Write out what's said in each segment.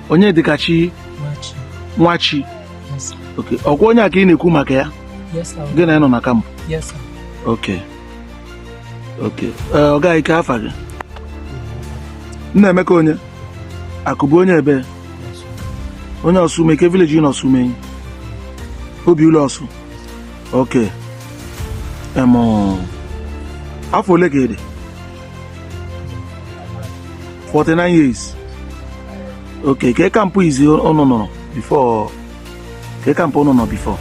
onyedịkachi nwachi ọkwa onye a ka ị na-ekwu maka ya gị na ya nọ na kampụ ok ok ọga kee afa gị nnaemeka onye akụbụ onye ebe onye osumenyi kee village na osumenyi obi ụlọ ọsụ ok afọ ole ka ị dị 49 years okay ke kampụ izi ụnụ nọrọ before ke kampụ ụnụ nọ before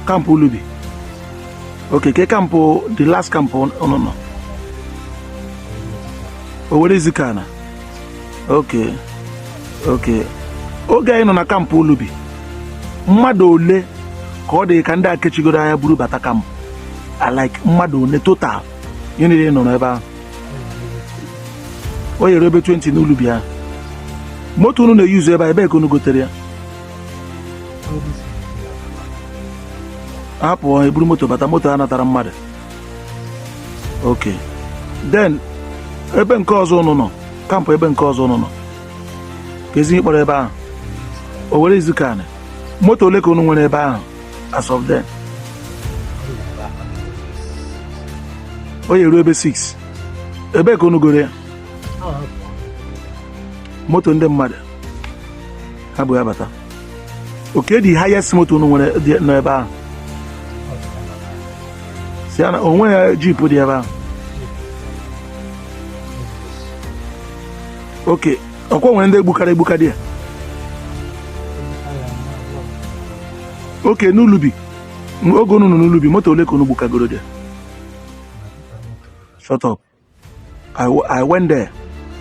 kampụ ulubi okay ke kampụ the last kampụ ụnụ nọ owere izi ka na ok ok oge anyị nọ na kampụ ulubi mmadụ ole ka ọ dị ka ndị akechigoro anya buru bata kampụ like mmadụ ole total ihe niile nọ n'ebe ahụ ọ ya-eru ebe 20 n'ulubi ahụ moto unu na-eyuzu ebe a ebee ka unu gotere ya ha pụọ eburu moto bata moto ha natara mmadụ ok then ebe nke ọzọ ụnụ nọ kampụ ebe nke ọzọ ụnụ nọ kezi ihe ị kpọrọ ebe ahụ owerre ezukala moto ole ka ụnụ nwere ebe ahụ as of then ọ ya-eru ebe 6 ebee ka ụnụ goro ya moto ndị mmadụ ha bu ya bata ok the highest moto unu nwere dị n'ebe ahụ sienna o nwere jeep dị ebe ahụ ok ọkwa nwere ndị egbukara egbuka there ok n'ulubi oge unu nọ n'ulubi moto ole ka unu gbukagoro there shut up I went there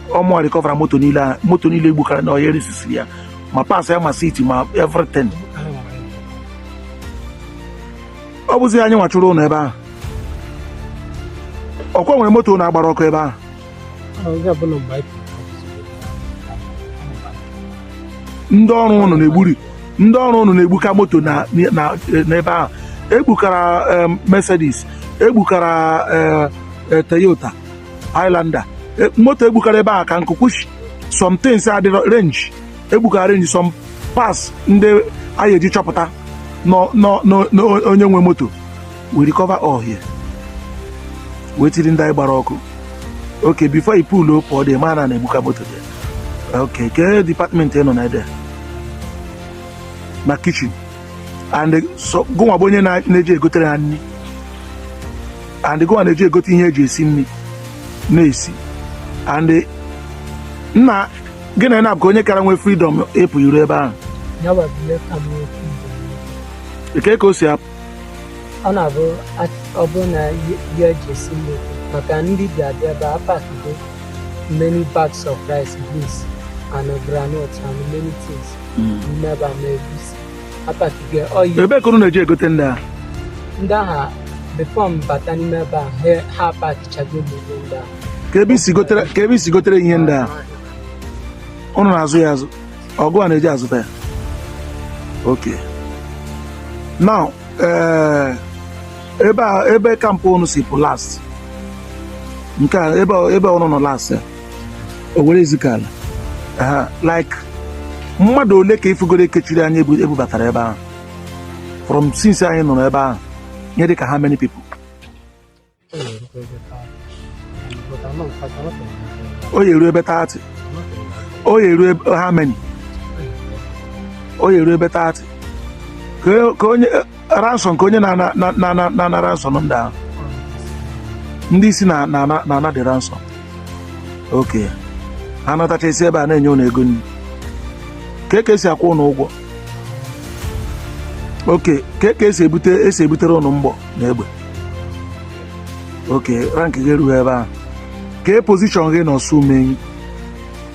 ọ mụ recover mo moto niile egbukara na ọhịa resisiri ya ma parts ya ma seat ma everything ọ bụzi anyị nwa chụrụ ụnụ ebe ahụ ọkwa nwere moto ụnụ gbara ọkụ ebe ahụ ndị ọrụ ụnụ na-egburi ndị ọrụ ụnụ na-egbuka moto n'ebe ahụ egbukara eh, Mercedes egbukara eh, e, Toyota Highlander e, moto egbukara ebe a ka nkụ kwuchi some things adịrọ range egbukara range some parts ndị anyị eji chọpụta onye nwe moto we recover all here wee tiri ndị anyị gbara ọkụ ok before i pull up the man na-egbuka moto there ok kee department ị nọ na there na kitchen and gụnwa bụ onye na-eji egotere ha nri and gụnwa na-eji egote ihe eji esi nri n'ezi and na gịnwa na-abụ onye kara nwee freedom ịpụ iru ebe ahụ kee ka o si apụ ọ na-abụ ọ bụrụ na ihe eji esi nri maka ndị bi abịa ebe a pakigo many bags of rice beans and groundnut and many things. Mm. Never made apatigo oyi ebe ka unu na-eji egote ndị a ndị ahụ before m bata n'ime ebe a ha- ha apakichago ihe ndị a kee ebe i si gotere kee ebe i si gotere ihe ndị a unu na-azụ ya azụ ọ gụnwa na-eji azụta ya okay now ee ebe a ebe camp unu si pụ last nke a ebe ebe unu nọ last ya Owerre Ezukala ha like mmadụ ole ka ị fụgoro e kechiri anya ebu- ebubatara ebe ahụ from since anyị nọrọ ebe ahụ nye dị ka how many people ọ ya-eru ebe 30 ọ ya-eru ebe how many ọ ya-eru ebe 30 kee kee onye ransom kee onye na-ana ransom ndị ahụ ndị isi na-ana the ransom okay ha natacha e si ebe a na-enye ụnụ ego nri kee ka e si akwụ ụnụ ụgwọ okay kee ka e si ebute e si ebutere ụnụ mgbọ na egbe okay rank gị erughị ebe ahụ kee position gị na Ọsụmenyi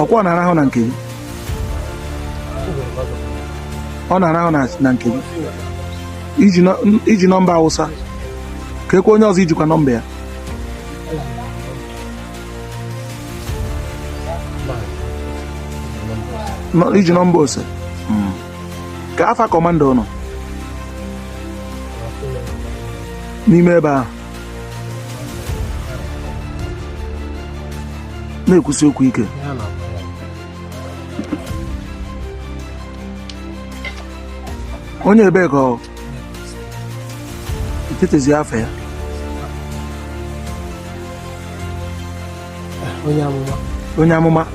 ọ kwa ọ na-arahụ na nke gị ọ na-arahụ na nke gị i ji nọmba Awụsa kee kwa onye ọzọ i jikwa nọmba ya i ji nọmba Ose hmm. kee afa kọmanda ụnụ n'ime ebe ahụ na-ekwusi okwu ike onye ebee ka ọ i chetezi afa ya onye amụma onye amụma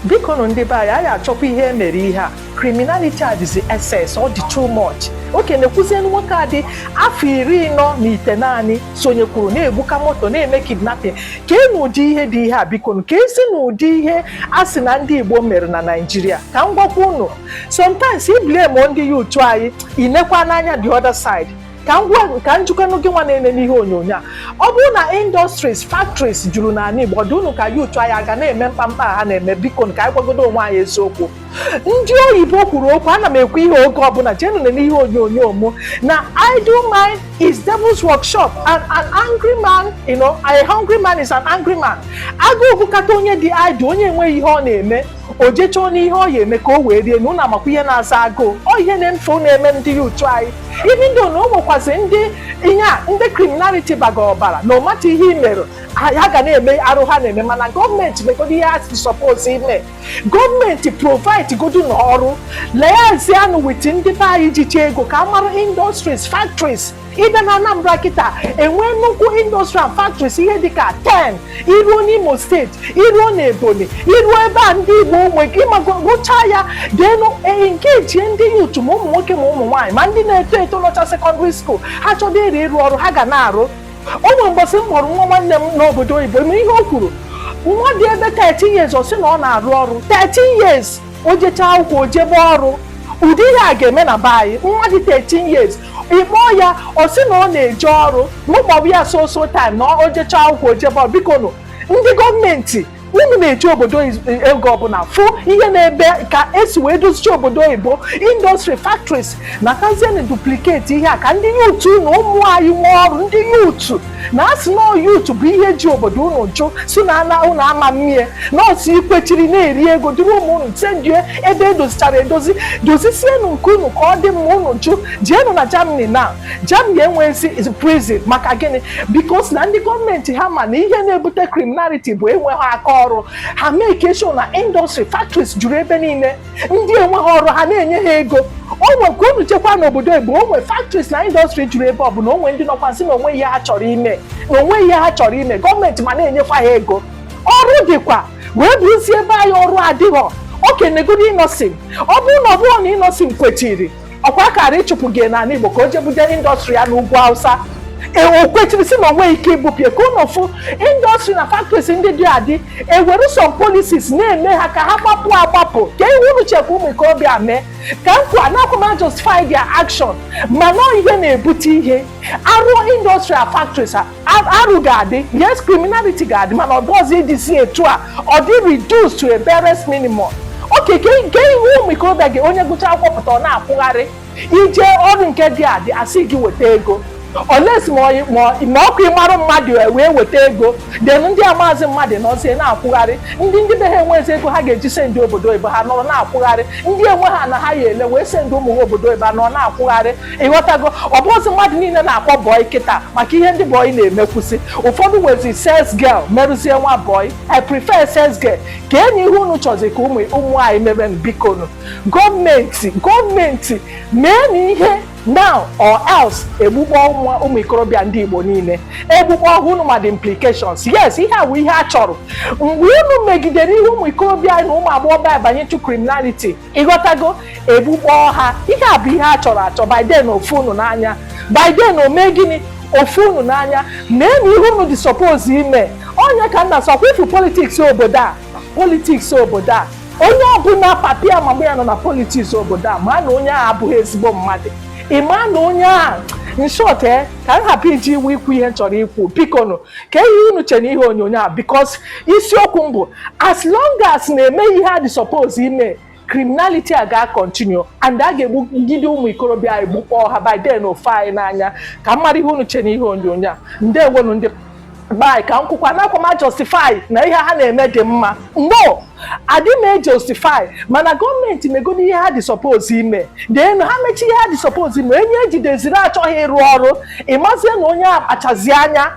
bikonụ ndị be anyị anyị achọkwa ihe e mere ihe a criminality adịzi excess ọ dị too much okay neekwuzienụ nwoke a dị afọ iri anọ na itenaanị sonyekwuru na-egbuka moto na-eme kidnapping keenụ ụdị ihe dị ihe a bikonụ keezinụ ụdị ihe a sị na ndị Igbo mere na Naịjirịa ka m gwakwa unu sometimes i blame ndị youth anyị i nekwanụ anya the other side ka m gwa ka m jụkwanụ gị nwa na-ene n'ihe onyonyo a ọ bụrụ na industries factories juru n'ala Igbo ọ dị unu ka youth anyị aga na-eme mkpamkpa a ha na-eme biko ka anyị gwagodo onwe anyị eziokwu ndị oyibo kwuru okwu ana m ekwu ihe oge ọbụla jenụ nee n'ihe onyonyo m na idle mind is devil's workshop and an angry man you know a hungry man is an angry man agụụ gụkata onye dị idle onye enweghị ihe ọ na-eme o je chọọnụ ihe ọ ya eme ka o wee rie na unu makwa ihe na-aza agụụ ọ ihe na-eme ife na-eme ndị youth anyị even though na o nwekwazị ndị ihe a ndị criminality baga ọbara no matter ihe i mere ha ga na-eme arụ ha na-eme mana gọọmenti megodo ihe ha si suppose ime gọọmenti provide godunụ ọrụ liaisianụ with ndị be anyị jicha ego ka a mara industries factories ị bịa na Anambra kịta enwee nnukwu industry and factories ihe dịka 10 iruo n'Imo steeti iruo n'Ebonyi iruo ebe a ndị Igbo nwe gị ma gụchaa ya then engagie ndị youth ma ụmụ nwoke ma ụmụ nwaanyị ma ndị na-eto eto nọcha secondary school ha chọdo ịrị ịrụ ọrụ ha ga na-arụ o nwe mbọsị m kpọrọ nwa nwanne m n'obodo oyibo ịma ihe o kwuru nwa dị ebe 13 years ọ sị na ọ na-arụ ọrụ 13 years o jechaa akwụkwọ o jebe ọrụ ụdị ihe a ga-eme na be anyị nwa dị 13 years ị kpọọ ya ọ sị na ọ na-eje ọrụ m kpọba ya so so time na o jechaa akwụkwọ o jebe ọrụ biko nụ ndị gọọmenti unu na-eje obodo oyibo unu na-afụ ihe n'ebe ka esi wee dozicha obodo oyibo industry factories natazienụ duplicate ihe a ka ndị youth na ụmụ anyị nwee ọrụ ndị youth na asị na youth bụ ihe ji obodo unu jụ sị na unu ama mmie na ọsị ikwechiri na-eri ego duru ụmụ unu sendie ebe edozichara edozi dozisienụ nke unu ka ọ dị mma unu jụ jeenụ na Germany na Germany enwezi prison maka gịnị because na ndị gọọmenti ha ma na ihe na-ebute criminality bụ enweghị aka ọrụ ha make sure na industry factories juru ebe niile ndị enweghị ọrụ ha na-enye ha ego o nwe ka unu chekwa n'obodo oyibo o nwe factories na industry juru ebe ọ bụla o nwe ndị nọkwanụ sị na o nweghị ihe ha chọrọ ime gọọmenti ma na-enyekwa ha ego ọrụ dịkwa wee bụrụzie be anyị ọrụ adịghọ okay negodu Innoson ọ bụrụ na ọ bụrọ na Innoson kwechiri ọkwa a kara ịchụpụgo ya n'ala Igbo ka o je buje industry ya n'ugwu Hausa e, o kwechiri sị na o nweghị ike ibupụ ya ka unu fụ industry na factories ndị dị adị ewere some policies na-eme ha ka ha gbapụ agbapụ kee ihe unu che ka ụmụ ikorobịa mee ka nkwa anakwa m ajustify their action mana ihe na-ebute ihe a rụọ industry a factories a arụ ga-adị yes criminality ga-adị mana ọ dọzi ịdịzi etu a ọ dị reduced to a barest minimum okay kee ihe ụmụ ikorobịa gị onye gụcha akwụkwọ pụta ọ na-akwụgharị ije ọrụ nke dị adị asị gị weta ego unless ma ọ bụ ịmarụ mmadụ e wee weta ego then ndị amazị mmadụ nọzie na-akwụgharị ndị ndị be ha enwezi ego ha ga-eji sendie obodo oyibo ha nọrọ na-akwụgharị ndị enweghị ana ha ya-ele wee sendie ụmụ ha obodo oyibo ha nọrọ na-akwụgharị ịghọtago ọ bụzi mmadụ niile na-akpọ bọị kịta maka ihe ndị bọị na-emekwusị ụfọdụ wezie sales girl merụzie nwa bọị i prefer sales girl ka enyi ihe unu chọzi ka ụmụ anyị mebe bikonu gọọmenti gọọmenti meenụ ihe now or else egbukpọọ ụmụ ikorobịa ndị igbo niile egbukpọọ ha unu ma the implications yes ihe a bụ ihe a chọrọ mgbe unu megidere ihe ụmụ ikorobịa na ụmụ agbọghọ abanye to criminality ịghọtago egbukpọọ ha ihe a bụ ihe a chọrọ achọ by then o fee unu n'anya by then o mee gịnị o fee unu n'anya meenụ ihe unu dị suppose ime onye ka m na-asọkwa ifu politics obodo a politics obodo a onye ọbụla papa ya ma ọ bụ ya nọ na politics obodo a ma na onye ahụ abụghị ezigbo mmadụ ị ma na onye ahụ in short e ka m hapụ iji iwu ikwu ihe m chọrọ ikwu bikonu kaa ihe unu che n'ihe onyonyo a because isiokwu m bụ as long as na-eme ihe a dị suppose ime criminality a ga continue and a ga-egbugide ụmụ ikorobịa anyị gbukpọọ ha by then o fee anyị n'anya ka m mara ihe unu che n'ihe onyonyo a ndewonu ndị be anyị ka m kwukwaa anakwa m ajustify na ihe ha na-eme dị mma no adị m ejustify mana gọọmenti megodi ihe ha dị suppose ime then ha mechaa ihe ha dị suppose ime onye ejideziri achọghị ịrụ ọrụ ịmazie na onye akpachazi anya